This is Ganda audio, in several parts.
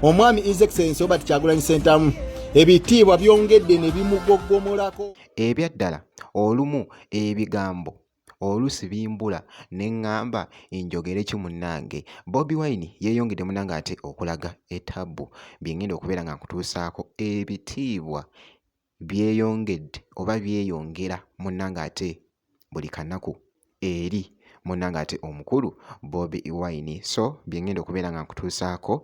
omwami his excellence obert kyagulanyi sentamu ebitiibwa byongedde ne bimugogomolako ebyaddala olumu ebigambo olusi bimbula ne ŋŋamba enjogere ki munnange bobi wine yeeyongedde munange ate okulaga etabbu bye ŋŋenda okubeera nga nkutuusaako ebitiibwa byeyongedde oba byeyongera munnange ate buli kanaku eri munnange ate omukulu Bobi Wine so byengenda okubeera nga nkutuusaako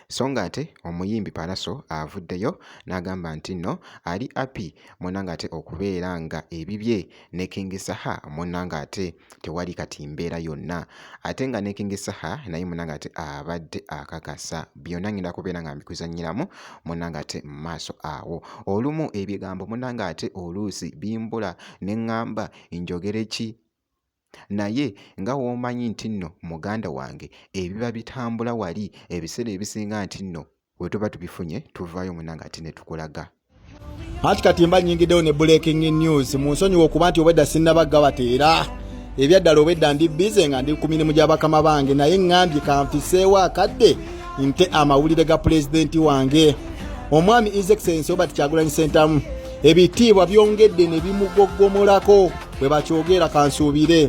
so nga ate omuyimbi Pallaso avuddeyo n'agamba nti nno ali api munnange ate okubeera nga ebibye ne King Saha munnange ate tewali kati mbeera yonna ate nga ne King Saha naye munange ate abadde akakasa byonna ngenda kubeera nga mbikuzanyiramu munange ate mu maaso awo olumu ebigambo munange ate oluusi bimbula ne ŋŋamba njogere ki naye nga w'omanyi nti nno muganda wange ebiba bitambula wali ebiseera ebisinga nti nno bwe tuba tubifunye tuvaayo munange ate ne tukulaga anti kati mba nyingiddewo ne breaking news mu nsonyiwa okuba nti obwedda sinnabagga bateera ebyaddala obwedda ndi bize nga ndi ku mirimu gya bakama bange naye ŋŋambye kanfiseewo akadde nte amawulire ga pulezidenti wange omwami is excellence obert kyagulanyi sentamu ebitiibwa byongedde ne bimugogomolako bwe bakyogera kansuubire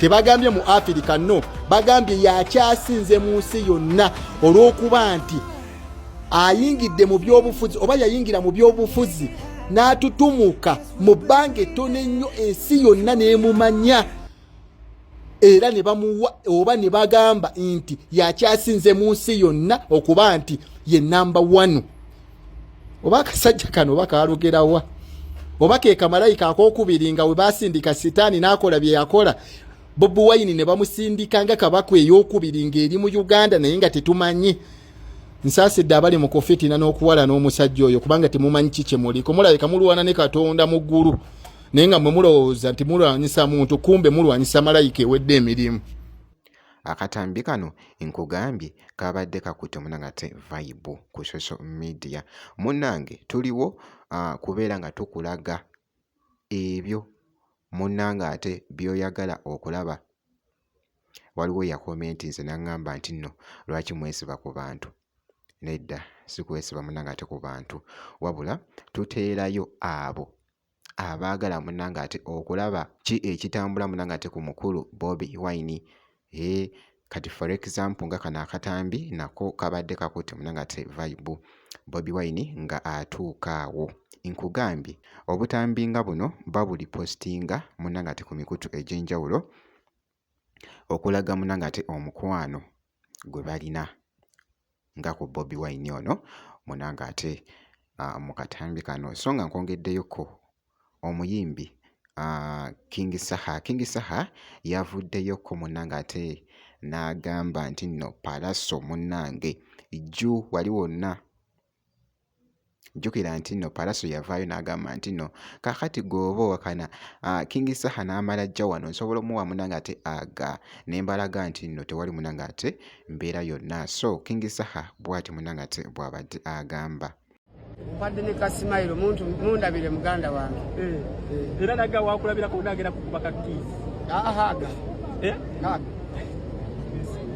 tebagambye mu afirika no bagambye yakyasinze mu nsi yonna olw'okuba nti ayingidde mu byobufuzi oba yayingira mu byobufuzi n'atutumuka mu bbanga ettono ennyo ensi yonna n'emumanya era ne bamuwa oba ne bagamba nti yakyasinze mu nsi yonna okuba nti ye namba wanu oba akasajja kano oba kaalugerawa oba ke kamalayika akokubiri nga we basindika sitaani n'akola bye yakola bobi wayini ne bamusindika nga kabaka ey'okubiri ng'eri mu uganda naye nga tetumanyi nsaasidde abali mu kufitina n'okuwalana omusajja oyo kubanga temumanyi ki kye muliko mulabika mulwana ne katonda mu ggulu naye nga mwe mulowooza nti mulwanyisa muntu kumbe mulwanyisa malayika ewedde emirimu Akatambi kano nkugambye kabadde kakutte munange ate vibe ku social media. Munange tuliwo uh, kubeera nga tukulaga ebyo munange ate byoyagala okulaba. Waliwo yakomenti nze nangamba nti nno lwaki mwesiba ku bantu nedda sikwesiba munange ate ku bantu wabula tuteerayo abo abaagala munange ate okulaba ki ekitambula munange ate ku mukulu Bobi Wine ee kati for example nga kano akatambi nako kabadde kakutte munange ate vibe Bobi Wine nga atuuka awo nkugambye obutambi nga buno babuli postinga munange ate ku mikutu egy'enjawulo okulaga munange ate omukwano gwe balina nga ku Bobi Wine ono munange ate ah, mu katambi kano so nga nkwongeddeyoko omuyimbi ah, King Saha King Saha yavuddeyoko munange ate n'agamba nti nno Pallaso munange jju wali wonna jjukira nti nno palaso yavaayo n'agamba nti nno kakati gweoba owakana ah, kingi saha n'amala ajja wano nsobola omuwa munange ate aga ne mbalaga nti nno tewali munange ate mbeera yonna so kingi saha bwati munange ate bw'abadde agamba mpadde ne kasimayiro muntu mundabire muganda wange eh, eh. era naga wakulabirako naagera kukuba kakiisi aha aga eh? aga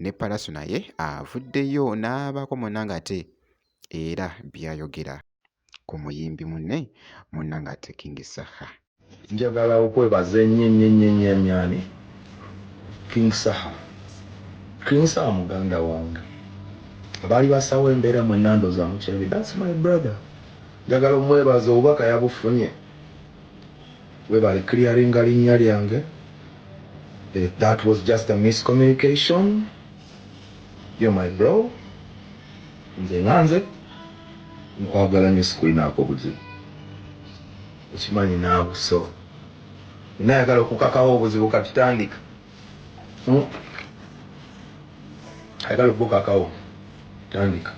ne Palaso naye avuddeyo n'abaako munnange ate era by'ayogera ku muyimbi munne munnange ate King Saha. Njagala okwebaza ennyo ennyo ennyo ennyo ennyo ani? King Saha. King Saha muganda wange. Abaali basaawo embeera mwenna ndowooza mukirabye. That's my brother. Njagala ommwebaza obubaka yabufunye Webale clearinga linnya lyange that was just a miscommunication you're my bro nze nga nze nkwagala nnyo sikulinaako buzibu okimanyi naawe so nina ayagala okukakawo obuzibu kati tandika hmm? ayagala okukakawo tandika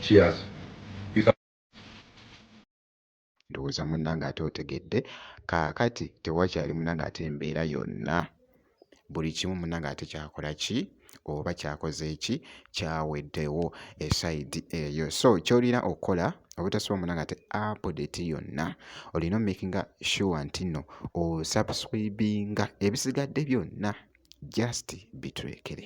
cheers Ndowooza munnange ate otegedde. Kaakati tewakyali munnange ate embeera yonna, buli kimu munnange ate kyakola ki oba kyakoze ki, kyaweddewo esayidi eyo. So ky'olina okukola obutasubwa munnange ate apudeti yonna olina omakinga sure nti nno osubscribinga ebisigadde byonna just bitulekere.